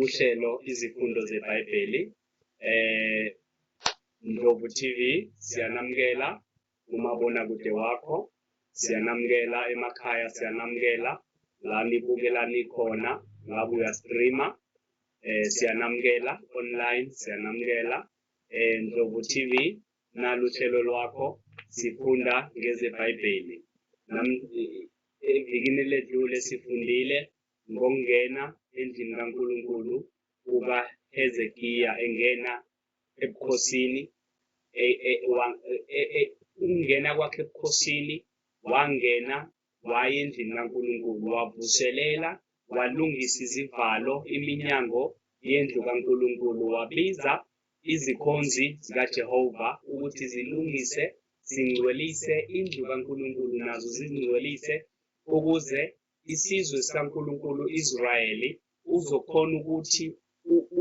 uhlelo izifundo zeBhayibheli eh Ndlovu TV siyanamukela umabona kude wakho siyanamukela emakhaya siyanamukela la nibukela nikhona ngabe uyastreama eh siyanamukela online siyanamukela eh Ndlovu TV naluhlelo lwakho sifunda ngezeBhayibheli evikini ledlule sifundile ngokungena endlini kaNkulunkulu kukaHezekiya engena ebukhosini e, e, e, ukungena kwakhe ebukhosini wangena waya endlini kaNkulunkulu wavuselela walungisa izivalo iminyango yendlu kaNkulunkulu wabiza izikhonzi zikaJehova ukuthi zilungise zingcwelise indlu kaNkulunkulu nazo zingcwelise ukuze isizwe sikaNkulunkulu Israyeli uzokhona ukuthi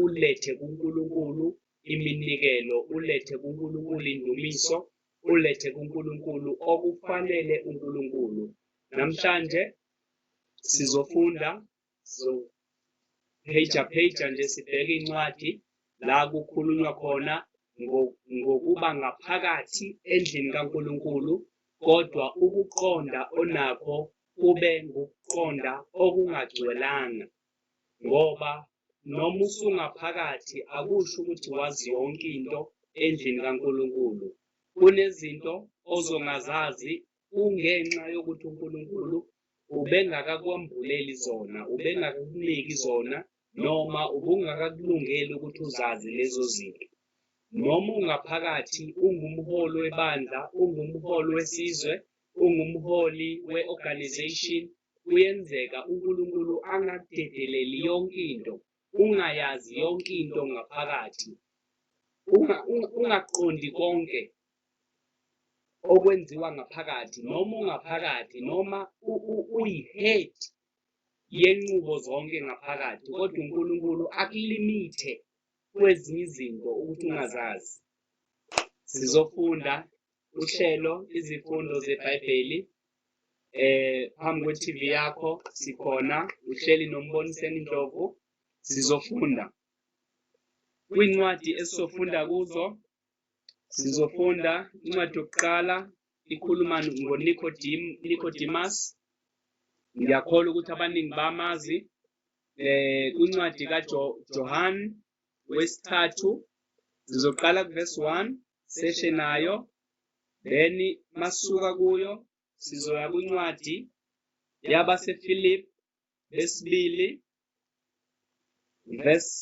ulethe kuNkulunkulu iminikelo ulethe kuNkulunkulu indumiso ulethe kuNkulunkulu okufanele uNkulunkulu namhlanje sizofunda so page page nje sibheke incwadi la kukhulunywa khona ngokuba ngaphakathi endlini kaNkulunkulu kodwa ukuqonda onakho kube ngukuqonda okungagcwelanga ngoba noma usungaphakathi akusho ukuthi wazi yonke into endlini kaNkulunkulu. Kunezinto ozongazazi kungenxa yokuthi uNkulunkulu ubengakakwambuleli zona, ubengakakuniki zona noma ubungakakulungeli ukuthi uzazi lezo zinto. Noma ungaphakathi, ungumholi webandla, ungumholi wesizwe, ungumholi we-organization, kuyenzeka uNkulunkulu angakudedeleli yonke into, ungayazi yonke into ngaphakathi, ungaqondi konke okwenziwa ngaphakathi, noma ungaphakathi, noma uyi-head yenqubo zonke ngaphakathi kodwa uNkulunkulu akulimithe kwezinye izinto ukuthi ungazazi sizofunda uhlelo izifundo zebhayibheli eh phambi kwe-TV yakho sikhona uhleli nomboniseni ndlovu sizofunda kwincwadi esizofunda kuzo Sizofunda incwadi yokuqala ikhuluma ngoNikodim, Nicodemus. Ngiyakholwa ukuthi abaningi bamazi eh incwadi kaJohan wesithathu sizoqala kuverse 1 seshe nayo then masuka kuyo sizoya kwincwadi yabaseFilip lesibili verse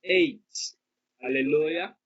8 haleluya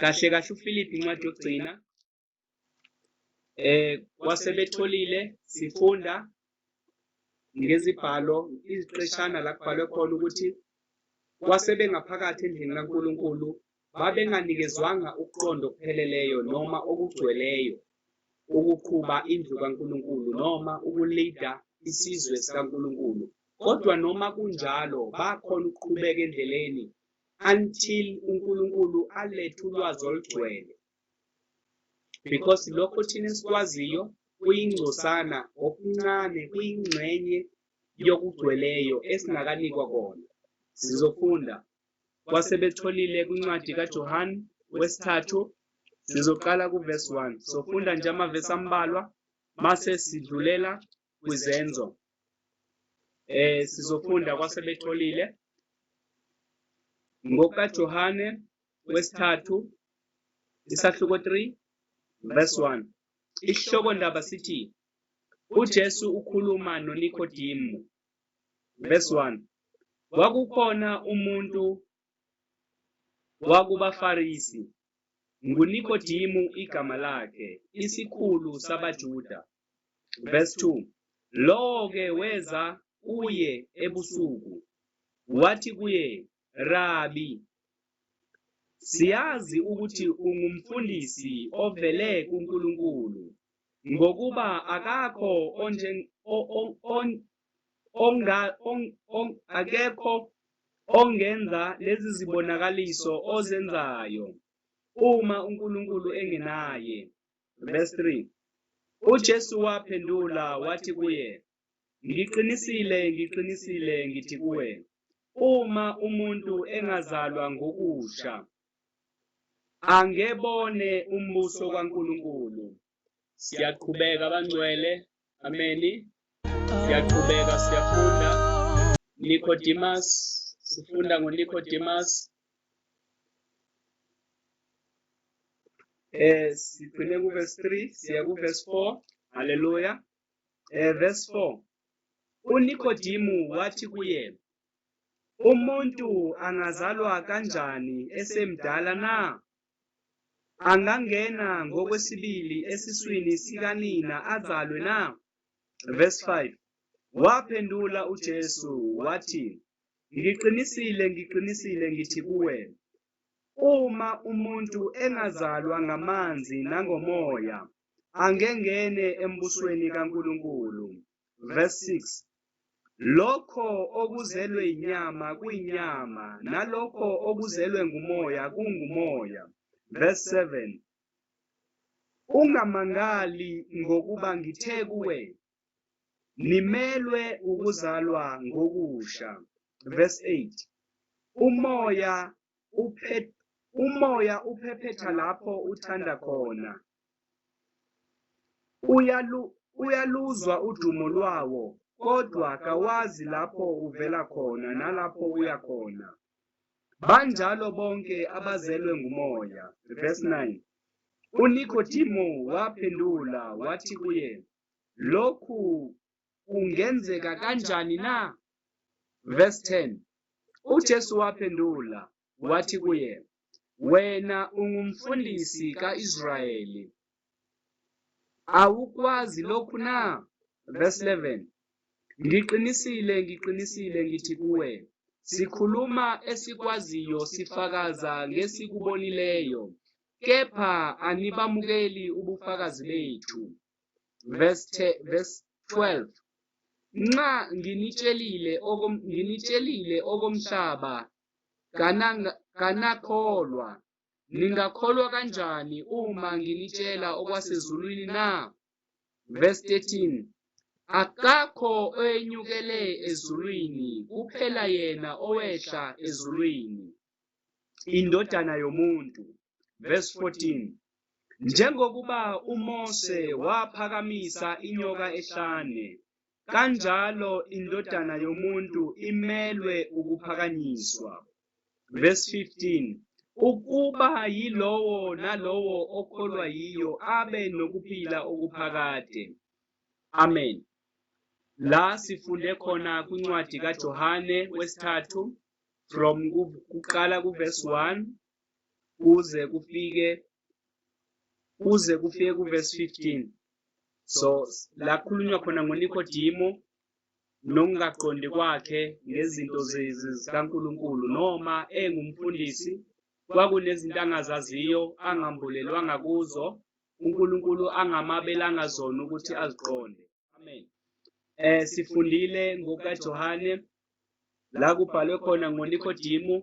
kahle kahle uFilipi incwadi yokugcina eh wasebetholile sifunda ngezibhalo iziqeshana la kubhalwe khona ukuthi wasebengaphakathi endlini kaNkuluNkulu babenganikezwanga ukuqonda okupheleleyo noma okugcweleyo ukuqhuba indlu kaNkuluNkulu noma ukulida isizwe sikaNkuluNkulu kodwa noma kunjalo bakhona ukuqhubeka endleleni until uNkulunkulu alethe ulwazi olugcwele because lokho thina esikwaziyo kuyingcosana okuncane kuyingxenye yokugcweleyo esingakanikwa kona sizofunda kwasebetholile kwincwadi kaJohane wesithathu sizoqala kuvesi 1 sofunda nje amavesi ambalwa mase sidlulela kwizenzo eh sizofunda kwasebetholile ngokaJohane wesithathu isahluko 3 verse 1 isihloko ndaba sithi uJesu ukhuluma noNikodemu verse 1 kwakukhona umuntu wakubaFarisi, nguNikodimu igama lakhe, isikhulu sabaJuda. Verse 2, Lowo-ke weza kuye ebusuku, wathi kuye, Rabi, siyazi ukuthi ungumfundisi ovele kuNkulunkulu, ngokuba akakho onga, on, on, akekho ongenza lezi zibonakaliso ozenzayo uma uNkulunkulu engenaye. Verse 3. UJesu waphendula wathi kuye, Ngiqinisile, ngiqinisile ngithi kuwe, uma umuntu engazalwa ngokusha angebone umbuso kaNkulunkulu. siyaqhubeka bangcwele ameni siyaqhubeka siyafunda Nicodemus sifunda ngoNicodemus eh siphinde ku verse 3 siya ku verse 4 haleluya eh verse 4 uNicodemus wathi kuye umuntu angazalwa kanjani esemdala na angangena ngokwesibili esiswini sikanina azalwe na? Verse 5. Waphendula uJesu wathi, Ngiqinisile, ngiqinisile ngithi kuwe, uma umuntu engazalwa ngamanzi nangomoya, angengene embusweni kaNkulunkulu. verse 6 lokho okuzelwe inyama kuyinyama nalokho okuzelwe ngumoya kungumoya verse 7 ungamangali ngokuba ngithe kuwe nimelwe ukuzalwa ngokusha verse 8 umoya uphet umoya uphephetha lapho uthanda khona Uyalu, uyaluzwa udumo lwawo, kodwa kawazi lapho uvela khona nalapho uya khona. Banjalo bonke abazelwe nguMoya. Verse 9. UNikodimo waphendula wathi kuye, Lokhu kungenzeka kanjani na? Verse 10. UJesu waphendula wathi kuye, Wena ungumfundisi ka-Israyeli. Awukwazi lokhu na? Verse 11. Ngiqinisile, ngiqinisile ngithi kuwe, sikhuluma esikwaziyo sifakaza ngesikubonileyo, kepha anibamukeli ubufakazi bethu. Verse, verse 12. Nxa nginitshelile, okom, nginitshelile okomhlaba Kananga, kanakholwa. Ningakholwa kanjani uma nginitshela okwasezulwini na? Verse 13. Akakho oyenyukele ezulwini kuphela yena owehla ezulwini. Indodana yomuntu. Verse 14. Njengokuba uMose waphakamisa inyoka ehlane kanjalo indodana yomuntu imelwe ukuphakanyiswa. Verse 15 ukuba yilowo nalowo okholwa yiyo abe nokuphila okuphakade. Amen. La sifunde khona kwincwadi kaJohane wesithathu from kuqala kuverse 1 kuze kufike kuze kufike kuvesi 15 so la kukhulunywa khona ngonikodimo nokungaqondi kwakhe ngezinto zikankulunkulu noma engumfundisi kwakunezinto angazaziyo angambulelwanga kuzo unkulunkulu angamabelanga zona ukuthi aziqonde amen um sifundile ngokukajohane la kubhalwe khona ngoNikodemu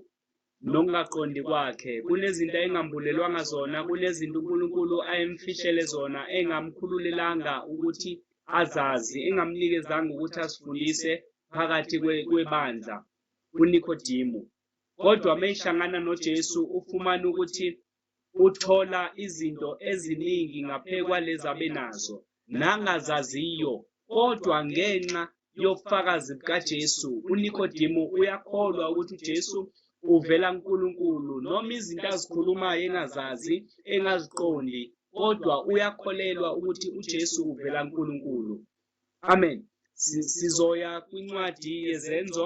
nokungaqondi kwakhe. Kunezinto ayengambulelwanga zona, kunezinto uNkulunkulu ayemfishele zona, engamkhululelanga ukuthi azazi, engamnikezanga ukuthi azifundise phakathi kwebandla uNikodemu. Kodwa uma ehlangana noJesu ufumana ukuthi Uthola izinto eziningi ngaphe kwalezi abenazo nangazaziyo, kodwa ngenxa yobufakazi bukaJesu, uNikodimu uyakholwa ukuthi uJesu uvela kuNkulunkulu. Noma izinto azikhulumayo engazazi, engaziqondi, kodwa uyakholelwa ukuthi uJesu uvela kuNkulunkulu. Amen. Sizoya kwincwadi yezenzo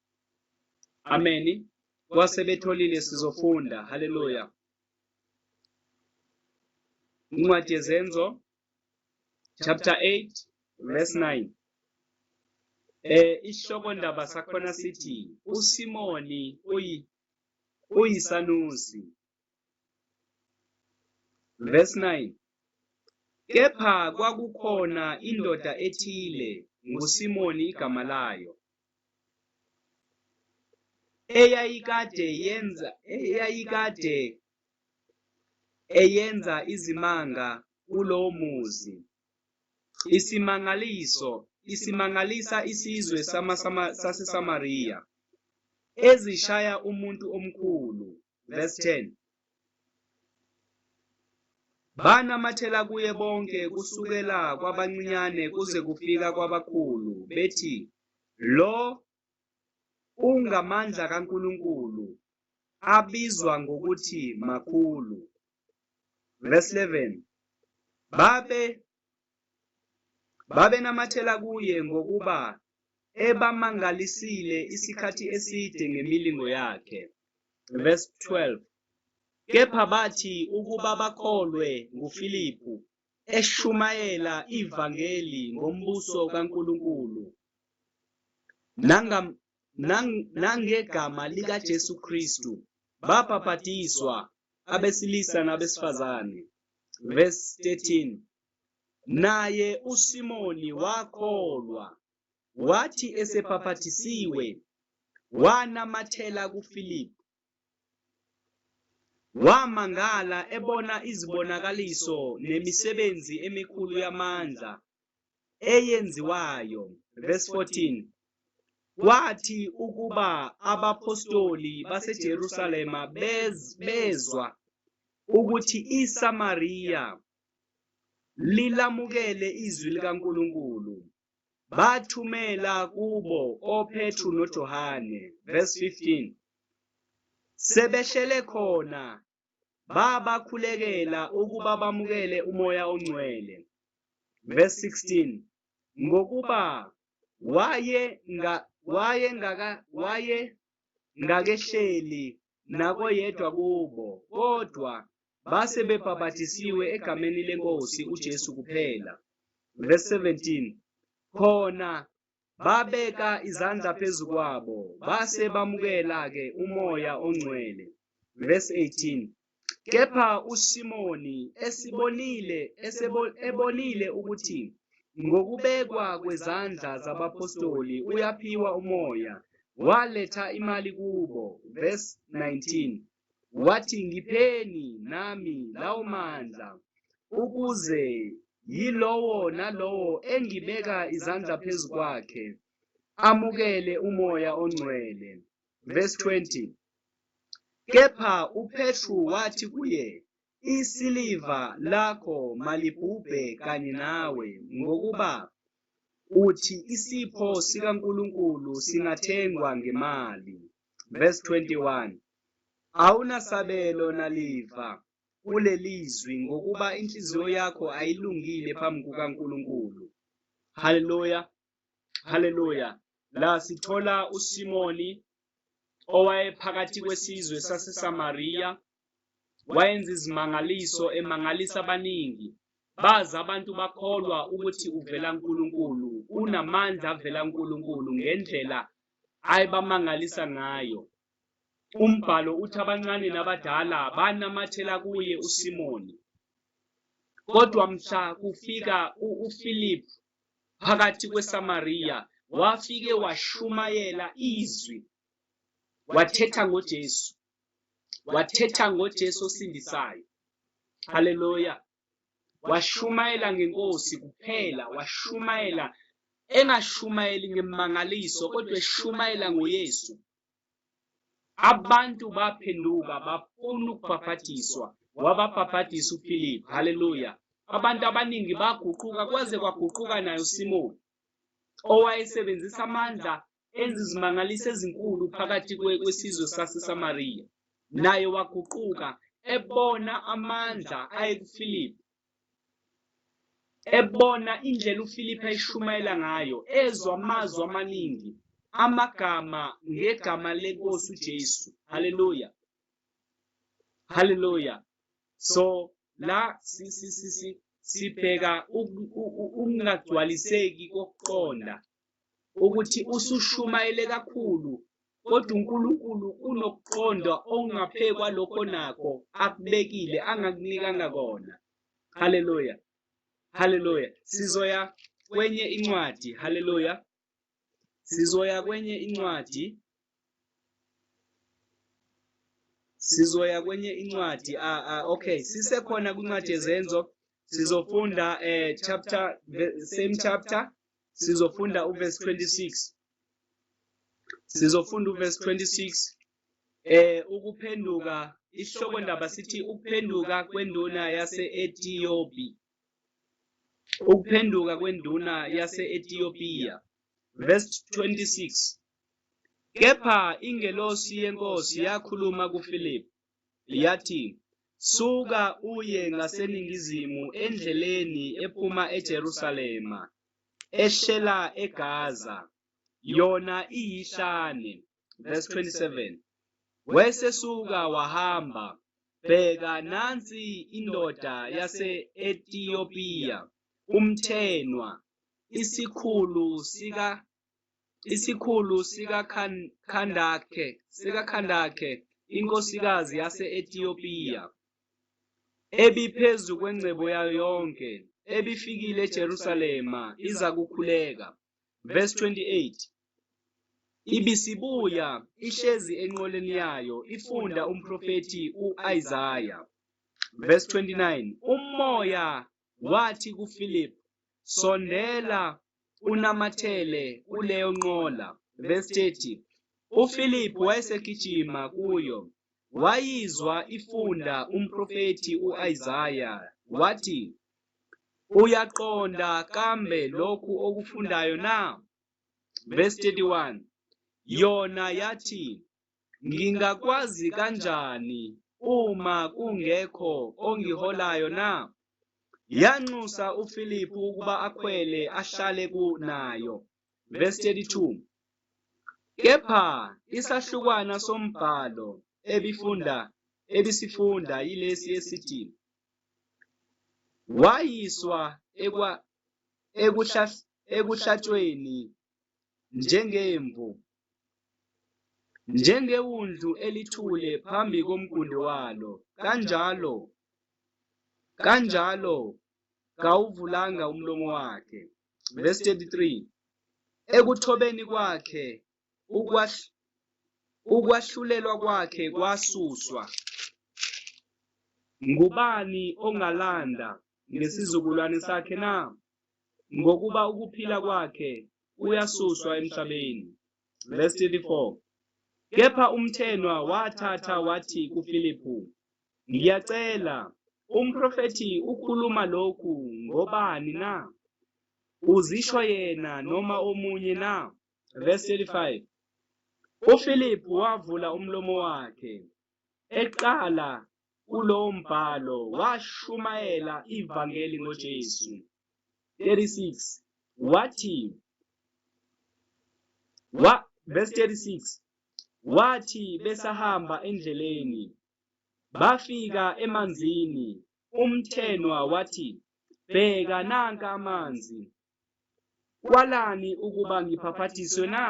ameni kwase betholile sizofunda haleluya incwadi yezenzo chapter 8 verse 9 eh isihloko ndaba sakhona sithi uSimoni uyi uyisanusi Verse 9 Kepha kwakukhona indoda ethile nguSimoni igama layo eyayikade yenza eyayikade eyenza izimanga kulowo muzi isimangaliso isimangalisa isizwe saseSamariya ezishaya umuntu omkhulu verse 10 banamathela kuye bonke kusukela kwabancinyane kuze kufika kwabakhulu bethi lo ungamandla kaNkulunkulu abizwa ngokuthi makhulu verse 11 babe Babenamathela kuye ngokuba ebamangalisile isikhathi eside ngemilingo yakhe. Verse 12. Kepha bathi ukuba bakholwe nguFilipu eshumayela ivangeli ngombuso kaNkulunkulu nangegama likaJesu Kristu babhapatiswa abesilisa nabesifazane. Verse 13 Naye uSimoni wakholwa, wathi esebhapathisiwe, wanamathela kuFilipu Wamangala ebona izibonakaliso nemisebenzi emikhulu yamandla eyenziwayo. Verse 14. Kwathi ukuba abaphostoli baseJerusalema bez, bezwa ukuthi iSamariya lilamukele izwi likaNkulunkulu. bathumela kubo oPetru noJohane verse 15 sebehlele khona babakhulekela ukuba bamukele umoya ongcwele verse 16 ngokuba waye nga, waye ngaka waye ngakehleli nakoyedwa kubo, kodwa base bebhapathisiwe egameni leNkosi uJesu kuphela. Verse 17. Khona babeka izandla phezu kwabo base bamukela ke umoya ongcwele. Verse 18. Kepha uSimoni esibonile esebo, ebonile ukuthi ngokubekwa kwezandla zabapostoli uyaphiwa umoya waletha imali kubo, verse 19, wathi, Ngipheni nami lawo mandla, ukuze yilowo nalowo engibeka izandla phezu kwakhe amukele umoya ongcwele. Verse 20, Kepha uPetru wathi kuye, isiliva lakho malibhubhe kanye nawe, ngokuba uthi isipho sikaNkulunkulu singathengwa ngemali. Verse 21 Awunasabelo naliva kulelizwi ngokuba inhliziyo yakho ayilungile phambi kukaNkulunkulu. Haleluya. haleluya la sithola usimoni owayephakathi kwesizwe sasesamariya wayenza izimangaliso emangalisa abaningi bazi abantu bakholwa ukuthi uvela nkulunkulu unamandla avela nkulunkulu ngendlela ayebamangalisa ngayo umbhalo uthi abancane nabadala banamathela kuye usimoni kodwa mhla kufika uphilip phakathi kweSamariya wafike washumayela izwi wathetha ngoJesu wathetha ngoJesu osindisayo haleluya washumayela ngenkosi kuphela washumayela engashumayeli ngemangaliso kodwa eshumayela ngoYesu abantu baphenduka bafuna ukubhaphathizwa wababhaphathisa uphilip haleluya abantu abaningi baguquka kwaze kwaguquka nayo simoni owayesebenzisa amandla enza izimangaliso ezinkulu phakathi kwesizwe sasesamariya naye waguquka ebona amandla ayekuphilip Ebona indlela uFiliphu ayishumayela ngayo, ezwa amazwi amaningi, amagama ngegama lenkosi uJesu. Haleluya. Haleluya. So la si si si si sibheka ukungagcwaliseki kokuqonda ukuthi usushumayele kakhulu kodwa uNkulunkulu unokuqonda okungaphekwa lokho nakho akubekile angakunikanga kona haleluya haleluya sizoya kwenye incwadi haleluya sizoya kwenye incwadi sizoya kwenye incwadi ah, ah, okay sisekhona kwincwadi yezenzo sizofunda eh, chapter same chapter sizofunda uverse 26 sizofunda uverse 26 eh ukuphenduka isihloko ndaba sithi ukuphenduka kwenduna yase-Ethiopia ukuphenduka kwenduna yase-Ethiopia verse 26 Kepha ingelosi yeNkosi yakhuluma kuFilipu, yathi, Suka uye ngaseningizimu endleleni ephuma eJerusalema, ehlela eGaza, yona iyihlane. Verse 27. Wesesuka wahamba, bheka nansi indoda yase-Etiyopiya, umthenwa, isikhulu Isikhulu sikaKhandake sikaKhandake inkosikazi yase-Etiyopiya ebiphezu kwengcebo yayo yonke ebifikile eJerusalema iza kukhuleka. Verse 28 Ibisibuya ihlezi enqoleni yayo ifunda umprofethi uIsaya. Verse 29 Umoya wathi kuPhilip, Sondela unamathele kuleyo nqola. Verse 30. UPhilip wayesegijima kuyo. Wayizwa ifunda umprofethi uIsaya wathi, Uyaqonda kambe lokhu okufundayo na? Verse 31. Yona yathi, Ngingakwazi kanjani uma kungekho ongiholayo na? Yanxusa uFiliphu ukuba akhwele ahlale kunayo. Verse 32. Kepha isahlukwana sombhalo ebifunda ebisifunda yilesi esithi wayiswa ekwa ekuhlatshweni njengemvu, njengewundlu elithule phambi komgundi walo, kanjalo kanjalo kawuvulanga umlomo wakhe. Verse 33 Ekuthobeni kwakhe ukwahl- ukwahlulelwa kwakhe kwasuswa. Ngubani ongalanda ngesizukulwane sakhe na? ngokuba ukuphila kwakhe kuyasuswa emhlabeni. Verse 34. Kepha umthenwa wathatha wathi kuFiliphu, Ngiyacela, umprofethi ukhuluma lokhu ngobani na? Uzisho yena noma omunye na? Verse 35. UFiliphu wavula umlomo wakhe, eqala Kulo mbhalo washumayela ivangeli ngoJesu. 36 wathi wa verse 36 wathi besahamba endleleni bafika emanzini umthenwa wathi bheka nanka amanzi Kwalani ukuba ngiphaphathiswe na?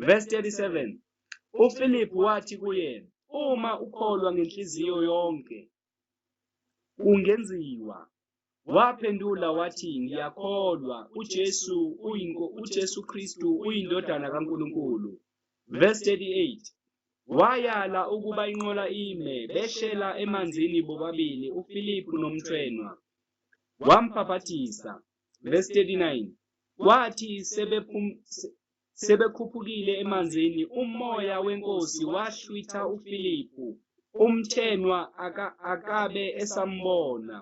Verse 37. UPhilip wathi kuye, Uma ukholwa ngenhliziyo yonke, kungenziwa. Waphendula wathi, Ngiyakholwa, uJesu uyinko, uJesu Kristu uyindodana kaNkulunkulu. Verse 38. Wayala ukuba inqola ime, behlela emanzini bobabili uPhilip nomthwenwa. Wambhaphathisa. Verse 39. Kwathi sebephum sebekhuphukile emanzini umoya wenkosi wahlwitha uFilipu umthenwa aka, akabe esambona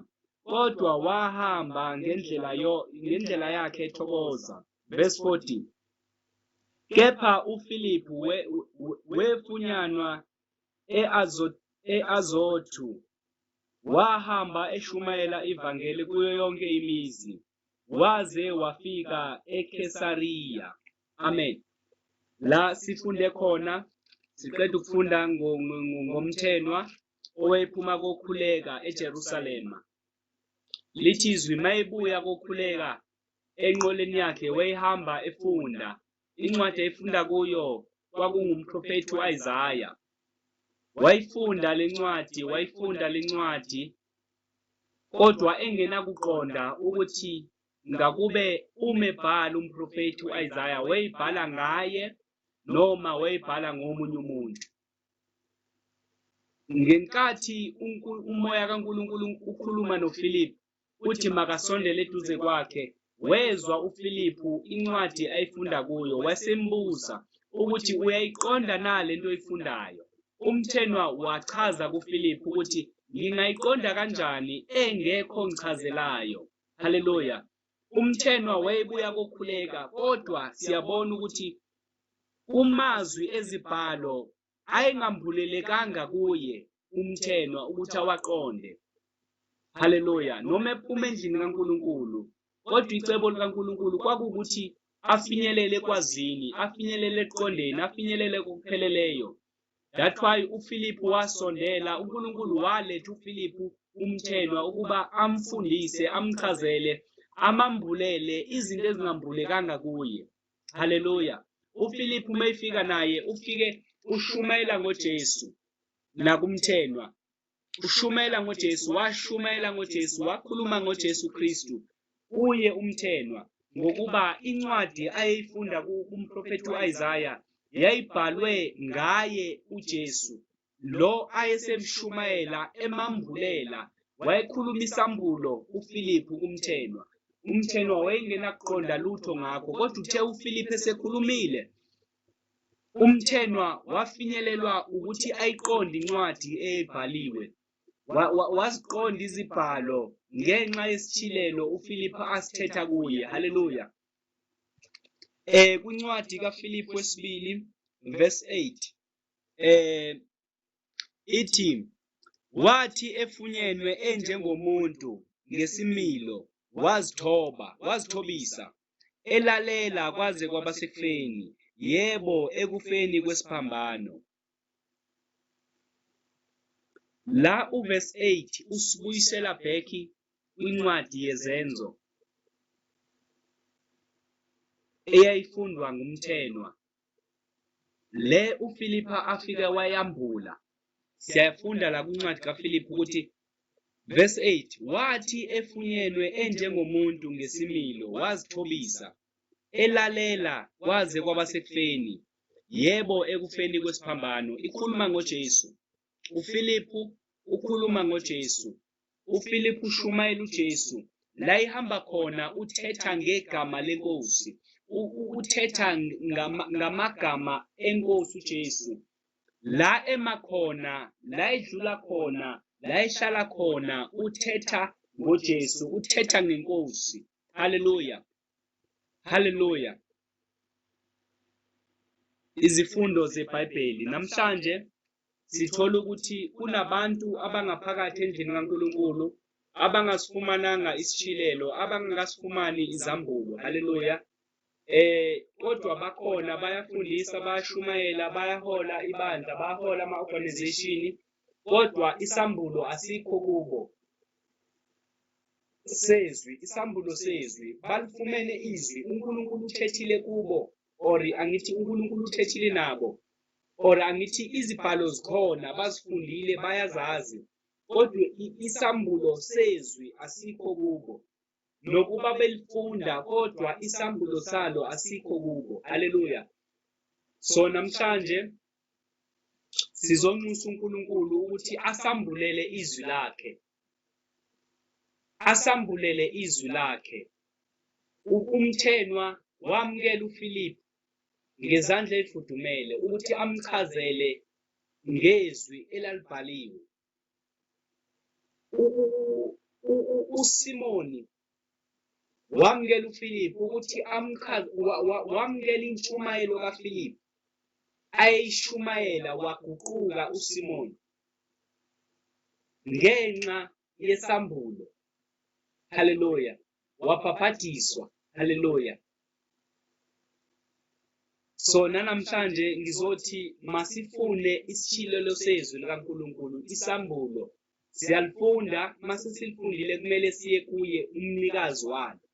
kodwa wahamba ngendlela yo ngendlela yakhe ethokoza verse 40 kepha uFilipu wefunyanwa we eAzot eAzothu Wahamba eshumayela ivangeli kuyo yonke imizi waze wafika eKesariya. Amen. La sifunde khona siqeda ukufunda ngomthenwa owephuma kokhuleka eJerusalema. Lithi izwi mayebuya kokhuleka enqoleni yakhe wayehamba efunda Incwadi ayifunda kuyo kwakungumprofethi uIsaya. Wayifunda lencwadi, wayifunda lencwadi kodwa engenakuqonda ukuthi ngakube umebhala umprofethi uIsaya wayibhala ngaye noma wayibhala ngomunye umuntu. Ngenkathi umoya kaNkulunkulu ukhuluma noFilip uthi makasondele eduze kwakhe wezwa uFiliphu incwadi ayifunda kuyo wasembuza ukuthi uyayiqonda na lento oyifundayo umthenwa wachaza kuFiliphu ukuthi ngingayiqonda kanjani engekho ngichazelayo haleluya umthenwa wayebuya kokhuleka kodwa siyabona ukuthi kumazwi ezibhalo ayengambulelekanga kuye umthenwa ukuthi awaqonde haleluya noma ephuma endlini kaNkuluNkulu kodwa icebo likaNkuluNkulu kwakukuthi afinyelele kwazini afinyelele eqondeni afinyelele kokupheleleyo that why uFiliphu wasondela uNkuluNkulu waletha uFiliphu umthenwa ukuba amfundise amchazele amambulele izinto ezingambulekanga kuye haleluya ufilipi uma efika naye ufike ushumayela ngojesu nakumthenwa ushumayela ngojesu washumayela ngojesu wakhuluma ngojesu kristu kuye umthenwa ngokuba incwadi ayeyifunda kumprofethi u-isaya yayibhalwe ngaye ujesu lo ayesemshumayela emambulela wayekhuluma isambulo uFiliphu kumthenwa umthenwa wayengenakuqonda lutho ngakho kodwa uthe uFiliphu esekhulumile umthenwa wafinyelelwa ukuthi ayiqonde incwadi eyayibhaliwe waziqonda izibhalo ngenxa yesithilelo uFiliphu asithetha kuye haleluya eh kwincwadi kaFiliphu wesibili verse 8 eh ithi wathi efunyenwe enjengomuntu ngesimilo wazithoba wazithobisa elalela kwaze kwaba sekufeni yebo ekufeni kwesiphambano la uverse 8 usibuyisela back kwincwadi yezenzo eyayifundwa ngumthenwa Le uFilipha afike wayambula. Siyafunda la kwincwadi kaFiliphu ukuthi verse 8 wathi efunyenwe enjengomuntu ngesimilo wazithobisa elalela kwaze kwabasekufeni yebo ekufeni kwesiphambano ikhuluma ngoJesu uFiliphu ukhuluma ngoJesu UFiliphu ushumayela uJesu la ihamba khona uthetha ngegama lenkosi uthetha ngamagama enkosi uJesu la emakhona la edlula khona la ehlala khona uthetha ngoJesu uthetha ngenkosi haleluya haleluya izifundo zebhayibheli namhlanje sithola ukuthi kunabantu abangaphakathi endlini kaNkulunkulu abangasifumananga isishilelo abangakasifumani izambulo haleluya eh kodwa bakhona bayafundisa bayashumayela bayahola ibandla bayahola ama-organization kodwa isambulo asikho kubo sezwi isambulo sezwi balifumene izwi uNkulunkulu uthethile kubo or angithi uNkulunkulu uthethile nabo or angithi izibhalo zikhona bazifundile bayazazi kodwa isambulo sezwi asikho kubo nokuba belifunda kodwa isambulo salo asikho kubo haleluya so namhlanje sizonxusa uNkulunkulu ukuthi asambulele izwi lakhe asambulele izwi lakhe. Ukumthenwa wamukela uFilip ngezandla ezifudumele ukuthi amchazele ngezwi elalibhaliwe. USimoni wamukela uFiliphu ukuthi amchaze wamukela intshumayelo kaFiliphu ayeyishumayela waguquka uSimoni ngenxa yesambulo haleluya wabhabhadiswa haleluya so nanamhlanje ngizothi masifune isishilelo sezwi likaNkuluNkulu isambulo Siyalifunda, mase silifundile kumele siye kuye umnikazi walo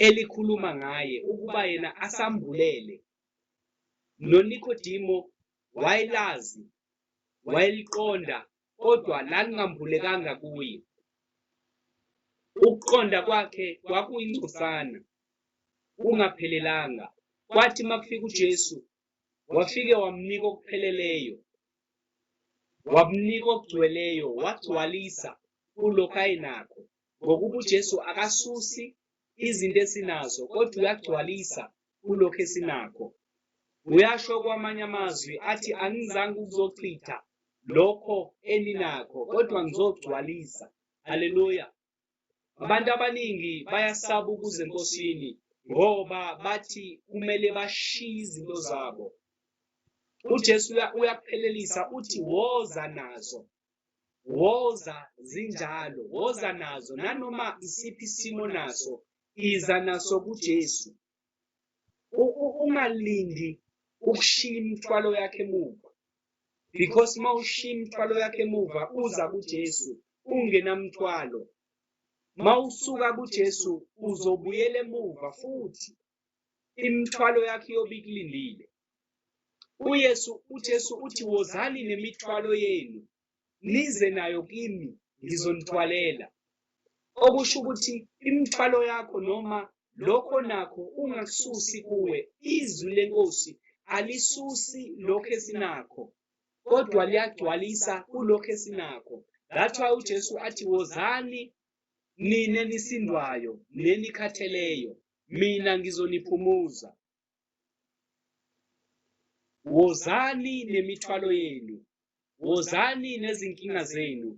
elikhuluma ngaye ukuba yena asambulele. NoNikodimo wayelazi, wayeliqonda kodwa lalingambulekanga kuye. Ukuqonda kwakhe kwakuyingcosana kungaphelelanga. Kwathi makufika uJesu wafike wamnika okupheleleyo wamnika okugcweleyo wagcwalisa kulokho ayinakho ngokuba uJesu akasusi izinto esinazo kodwa uyagcwalisa kulokho esinakho uyasho kwamanye amazwi athi angizange ukuzochitha lokho eninakho kodwa ngizogcwalisa haleluya Abantu abaningi bayasaba ukuza enkosini ngoba bathi kumele bashiye izinto zabo. UJesu uyakuphelelisa uthi woza nazo. Woza zinjalo, woza nazo nanoma isiphi isimo naso, iza naso kuJesu. U- u- ungalindi ukushiya imithwalo yakhe emuva because uma ushiya imithwalo yakhe emuva uza kujesu ungenamthwalo uma usuka kujesu uzobuyela emuva futhi imithwalo yakhe iyobe ikulindile uyesu ujesu uthi wozani nemithwalo yenu nize nayo kimi ngizonithwalela okusho ukuthi imithwalo yakho noma lokho nakho ungakususi kuwe izwi lenkosi alisusi lokho esinakho kodwa liyagcwalisa kulokho esinakho that's why ujesu athi wozani nina nisindwayo nenikhatheleyo mina ngizoniphumuza Wozani nemithwalo yenu, wozani nezinkinga zenu.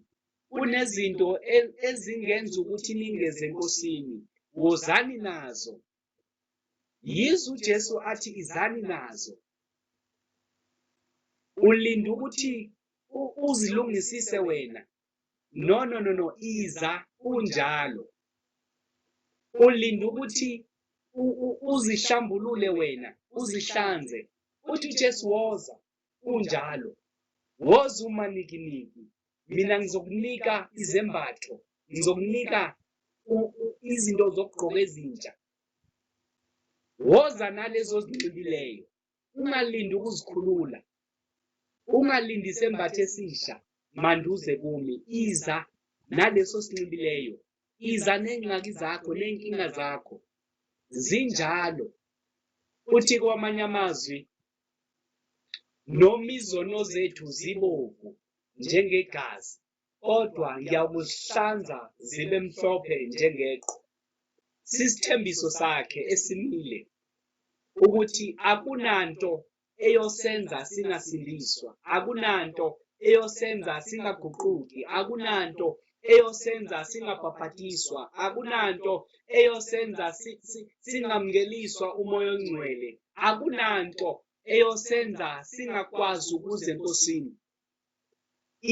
Kunezinto e- ezingenza ukuthi ningeze eNkosini. Wozani nazo. Yize uJesu athi izani nazo. Ulinda ukuthi u- uzilungisise wena no no no no iza kunjalo ulinda ukuthi uzihlambulule wena uzihlanze uthi uJesu woza kunjalo woza uma nikiniki mina ngizokunika izembatho ngizokunika izinto zokugqoka ezintsha woza nalezo zinxibileyo ungalindi ukuzikhulula ungalindi sembathe esisha manduze kumi iza naleso sinxibileyo iza nengxaki zakho nenkinga zakho zinjalo futhi kwamanye amazwi noma izono zethu zibovu njengegazi kodwa ngiyakuzihlanza zibe mhlophe njengeqhwa. Sisithembiso sakhe esimile ukuthi akunanto eyosenza singasindiswa, akunanto eyosenza singaguquki, akunanto eyosenza singabhabhadiswa, akunanto eyosenza singamngeliswa umoya ongcwele, akunanto eyosenza singakwazi ukuze enkosini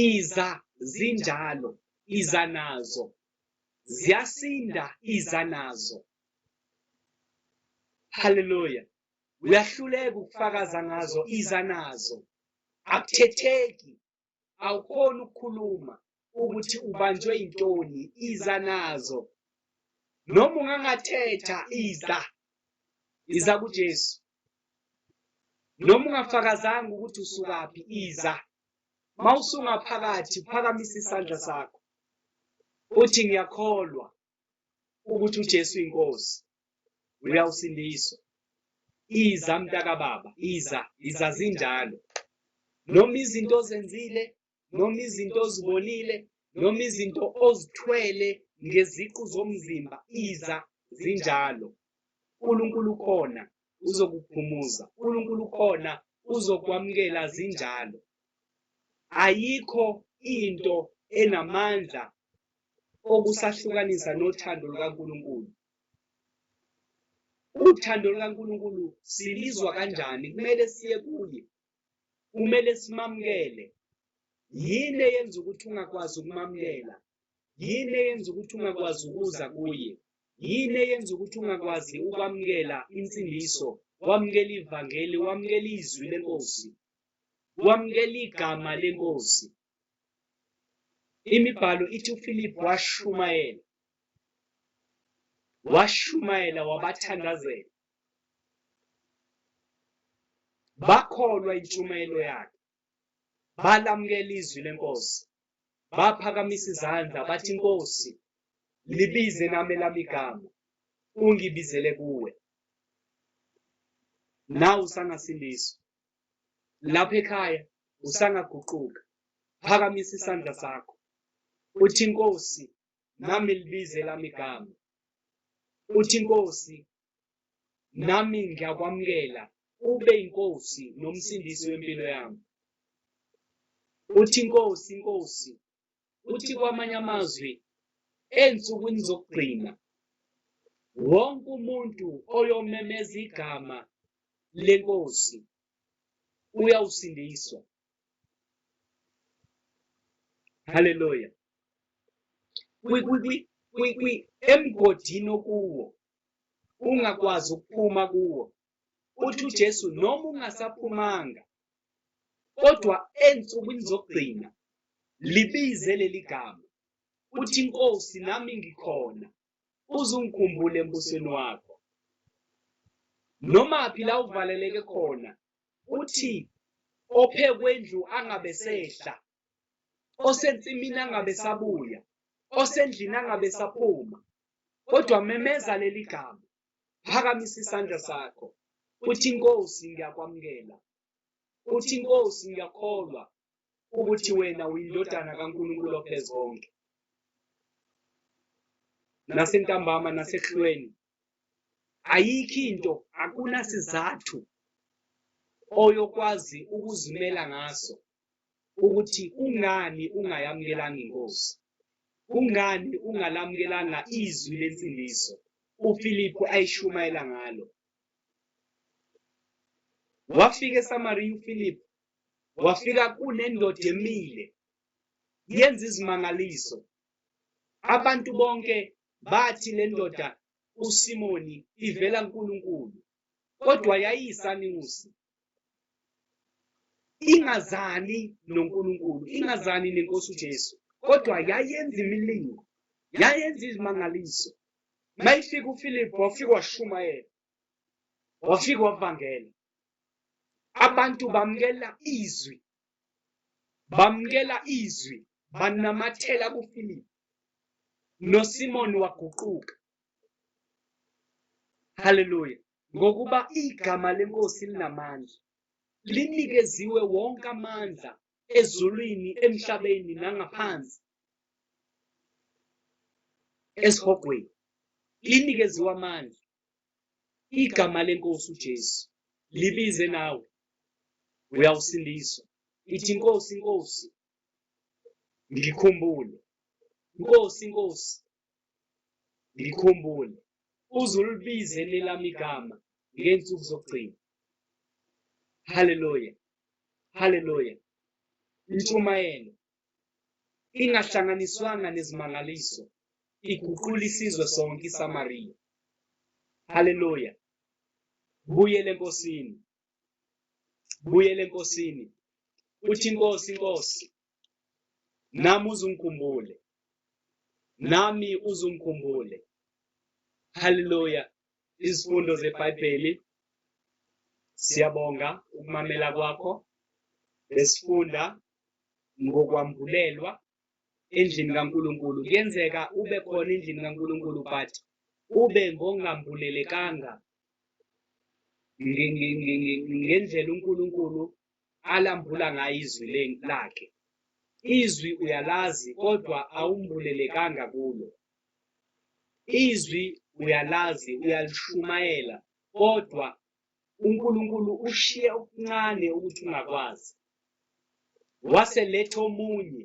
iza zinjalo iza nazo ziyasinda iza nazo haleluya uyahluleka ukufakaza ngazo iza nazo akuthetheki awukhona ukukhuluma ukuthi ubanjwe intoni iza nazo noma ungangathetha iza iza kuJesu noma ungafakazanga ukuthi usukaphi iza mawusunga phakathi phakamisa isandla sakho uthi ngiyakholwa ukuthi uJesu inkosi uyawusindiswa iza mntakababa iza iza zinjalo noma izinto ozenzile noma izinto ozibonile noma izinto ozithwele ngeziqu zomzimba iza zinjalo uNkulunkulu ukhona uzokuphumuza uNkulunkulu ukhona uzokwamukela zinjalo ayikho into enamandla okusahlukanisa nothando lukaNkulunkulu uthando lukaNkulunkulu silizwa kanjani kumele siye kuye kumele simamukele yini eyenza ukuthi ungakwazi ukumamukela yini eyenza ukuthi ungakwazi ukuza kuye yini eyenza ukuthi ungakwazi ukwamukela insindiso wamukela ivangeli wamukela izwi lenkosi wamukela igama lenkosi imibhalo ithi uFilipi washumayela washumayela wabathandazela bakholwa intshumayelo yakhe balamukela izwi lenkosi baphakamisa izandla bathi inkosi libize nami lami igama ungibizele kuwe nawu sangasindiswa lapha ekhaya usangaguquka phakamisa isandla sakho uthi inkosi nami libize lami igama uthi inkosi nami ngiyakwamukela ube inkosi nomsindisi wempilo yami uthi inkosi inkosi uthi kwamanye amazwi ensukwini zokugcina wonke umuntu oyomemeza igama lenkosi uyawusindiswa haleluya emgodini okuwo ungakwazi ukuphuma kuwo uthi uJesu noma ungasaphumanga kodwa ensukwini zokugcina libize leli gama uthi inkosi nami ngikhona uzungikhumbule embusweni wakho noma phi la uvaleleke khona uthi ophe kwendlu angabe sehla osensimini angabe sabuya osendlini angabe saphuma kodwa memeza leli gama phakamisa isandla sakho uthi inkosi ngiyakwamukela uthi inkosi ngiyakholwa ukuthi wena uyindodana kaNkulunkulu ophezulu konke nasentambama nasehlweni ayikho into akunasizathu oyokwazi ukuzimela ngaso ukuthi kungani ungayamukelanga iNkosi. Kungani ungalamukelanga izwi lensindiso uFiliphu ayishumayela ngalo? Wafika eSamariya uFiliphu, wafika kunendoda emile yenza izimangaliso. Abantu bonke bathi le ndoda uSimoni ivela kuNkulunkulu, kodwa yayiyisanusi, ingazani noNkulunkulu ingazani nenkosi uJesu kodwa yayenza imilingo yayenza izimangaliso mayifika uFilip wafika washumayela wafika wavangela abantu bamkela izwi bamkela izwi banamathela kuFilip noSimon waguquka haleluya ngokuba igama lenkosi linamandla linikeziwe wonke amandla ezulwini emhlabeni nangaphansi esihogweni linikeziwe amandla igama lenkosi uJesu libize nawe uyawusindiswa ithi inkosi inkosi ngikhumbule inkosi inkosi Ngikhumbule, uze ulibize elelami igama ngey'nsuku zokugcina. Haleluya! Haleluya! Intshumayelo ingahlanganiswanga nezimangaliso iguqula isizwe sonke iSamariya. Haleluya! Buyele eNkosini, buyele eNkosini. Uthi iNkosi, iNkosi, nami uzungikhumbule nami uzungikhumbule haleluya izifundo zebhayibheli siyabonga ukumamela kwakho besifunda ngokwambulelwa endlini kaNkuluNkulu kuyenzeka ube khona endlini kaNkuluNkulu but ube ngongambulelekanga ngendlela uNkulunkulu alambula ngayo izwi lakhe. Izwi uyalazi kodwa awumbulelekanga kulo. Izwi uyalazi uyalishumayela kodwa uNkulunkulu ushiye okuncane ukuthi ungakwazi. Waseletha omunye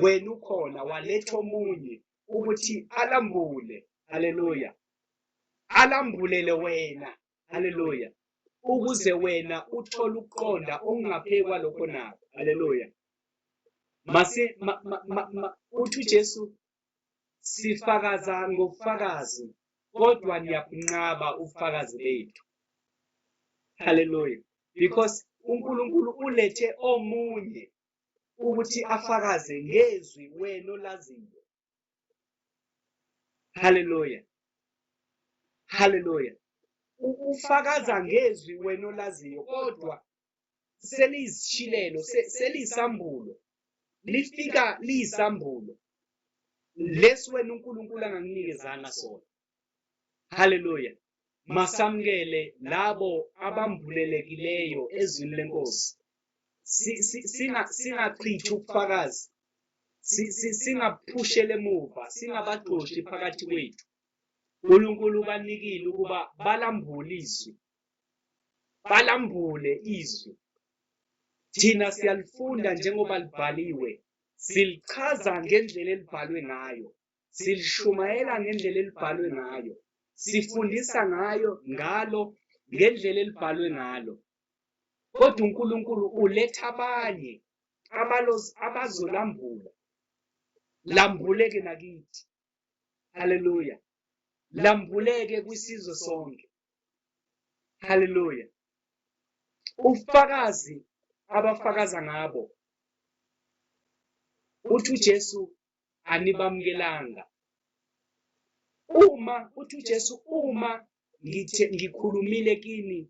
wena ukhona waletha omunye ukuthi alambule. Haleluya. Alambulele wena haleluya ukuze wena uthole ukuqonda okungaphekwa lokho nako haleluya mase ma, ma, ma, ma, uthi ujesu sifakaza ngobufakazi kodwa niyakunqaba ubufakazi bethu haleluya because unkulunkulu ulethe omunye ukuthi afakaze ngezwi wena olaziyo haleluya haleluya ufakaza ngezwi wena olaziyo kodwa seliyisishilelo seliyisambulo lifika liyisambulo lesi wena uNkulunkulu anganginikezanga sona Haleluya! Masamkele labo abambulelekileyo ezwini lenkosi. Singachithi ubufakazi, singaphushele emuva, singabaxoshi phakathi kwethu. uNkulunkulu ubanikile ukuba balambule izwi, balambule izwi. Thina siyalifunda njengoba libhaliwe, silichaza ngendlela elibhalwe ngayo. silishumayela ngendlela elibhalwe ngayo sifundisa ngayo ngalo ngendlela elibhalwe ngalo kodwa uNkulunkulu uletha abanye abalozi abazolambula lambuleke nakithi haleluya lambuleke kwisizwe sonke haleluya ufakazi abafakaza ngabo uthi uJesu anibamukelanga uma uthi uJesu uma ngithe ngikhulumile kini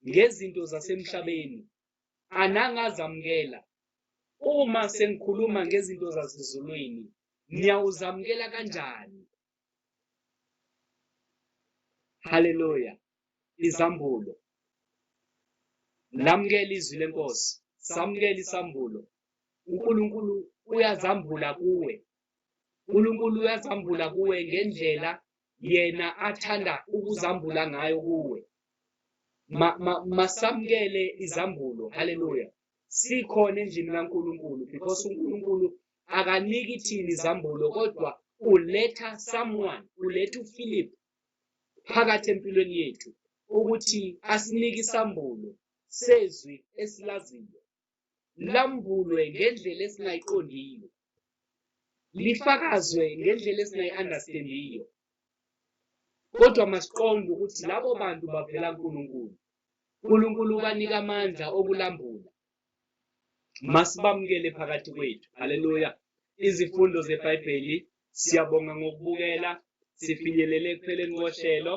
ngezinto zasemhlabeni anangazamukela uma sengikhuluma ngezinto zasezulwini niyawuzamukela kanjani haleluya izambulo lamukela izwi lenkosi samukela isambulo unkulunkulu uyazambula kuwe unkulunkulu uyazambula kuwe ngendlela yena athanda ukuzambula ngayo kuwe masamukele ma, ma izambulo haleluya sikhona endlini kaNkuluNkulu because uNkulunkulu akaniki thina izambulo kodwa uletha someone uletha uphilip phakathi empilweni yethu ukuthi asinike isambulo sezwi esilaziyo lambulwe ngendlela esingayiqondiyo lifakazwe ngendlela esingayi-understandiyo kodwa masiqonde ukuthi labo bantu bavela nkulunkulu uNkulunkulu ubanika amandla okulambula Masibamukele phakathi kwethu. Haleluya. Izifundo zeBhayibheli siyabonga ngokubukela sifinyelele ekupheleni kohlelo.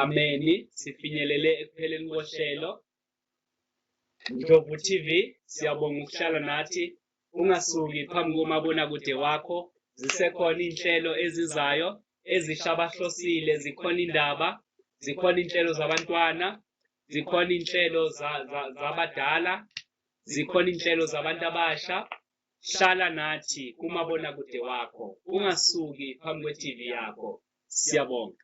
Ameni. Sifinyelele ekupheleni kohlelo. Ndlovu TV siyabonga ukuhlala nathi Ungasuki phambi komabonakude wakho, zisekhona iy'nhlelo ezizayo ezisha abahlosile, zikhona indaba, zikhona iy'nhlelo zabantwana, zikhona iy'nhlelo zabadala, zikhona iy'nhlelo zabantu abasha. Hlala nathi kumabonakude wakho, ungasuki phambi kwe-TV yakho. Siyabonga.